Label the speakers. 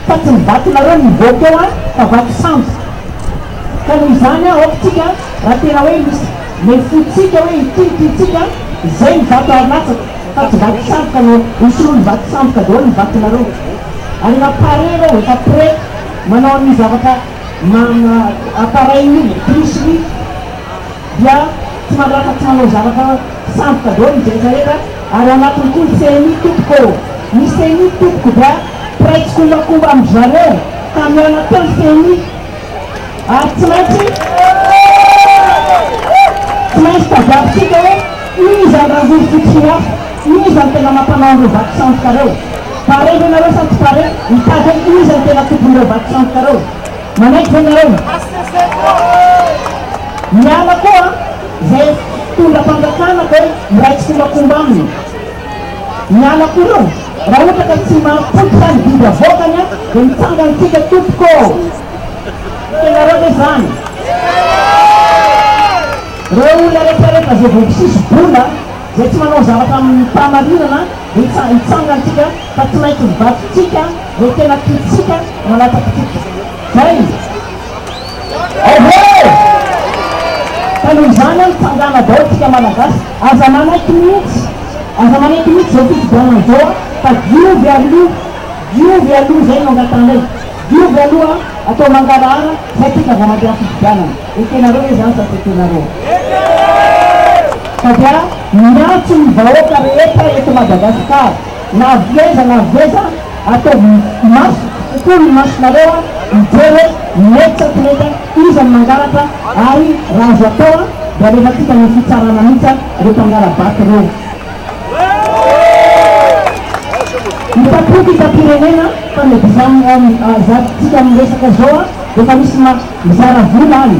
Speaker 1: Fa tsy ny vatonareo no hivoaka eo an, fa vato sambo. Ka noho izany an, aoka tsika raha tena hoe misy nefotsika hoe ity ny tiantsika, izay ny vato ary latsaka, fa tsy vato samboka no hosolon'ny vato samboka daholo ny vatonareo. Ary efa pare ireo, efa prêt manao ny zavatra ma, ma, appareil-ny iny, bus-ny iny. dia tsy mandratra tsy manao zavatra sandoka daholo ny jenty rehetra ary ao anatiny koa ny ceni tompoko ny ceni tompoko dia mpiray tsikombakomba amin-dry zareo ka miala teo ny ceni ary tsy maintsy tsy maintsy tadiavintsika hoe inona izany rangoro fotsy sy mafy inona izany tena mampanao an'ireo vato sandoka ireo pare ve ianareo sa tsy pare mitady hoe inona izany tena tompon'ireo vato sandoka ireo Manaiky ve nareo? Miala koa zay mpitondra fanjakana de miray tsikombakomba aminy. Miala koa reo raha ohatra ka tsy mahapoitra ny didy avoakany a de mitsanga antsika tompoko ô. Tianareo ve zany? Reo olona rehetra rehetra zay voapisisy vola, zay tsy manao zavatra aminy fahamarinana de hitsanga antsika. Fa tsy maintsy ny vadintsika no tena tiantsika no hanatakitsika. Zay izy. Ehe! Ka noho izany an, tsangana daholo tsika Malagasy. Aza manaiky mihitsy, aza manaiky mihitsy zao fifidianana zao an, fa diovy aloha, diovy aloha zay no angatanay. Diovy aloha an, atao mangarahara zay tsika vao mandeha fifidianana. Ekenareo ve zany sa tsy ekenareo? Fa dia miantso ny vahoaka rehetra eto Madagascar. Na avy aiza na avy aiza, ataovy maso kokoa ny masonareo hijery hoe mety sa tsy mety, iza no mangalatra ary raha azo atao dia alefantsika ny fitsarana mihitsy ireo mpangala-bato ireo. Hitam-poko hitam-pirenena fa na dia izany aza tsy hita amin'ny resaka izao dia efa misy mizara vola any.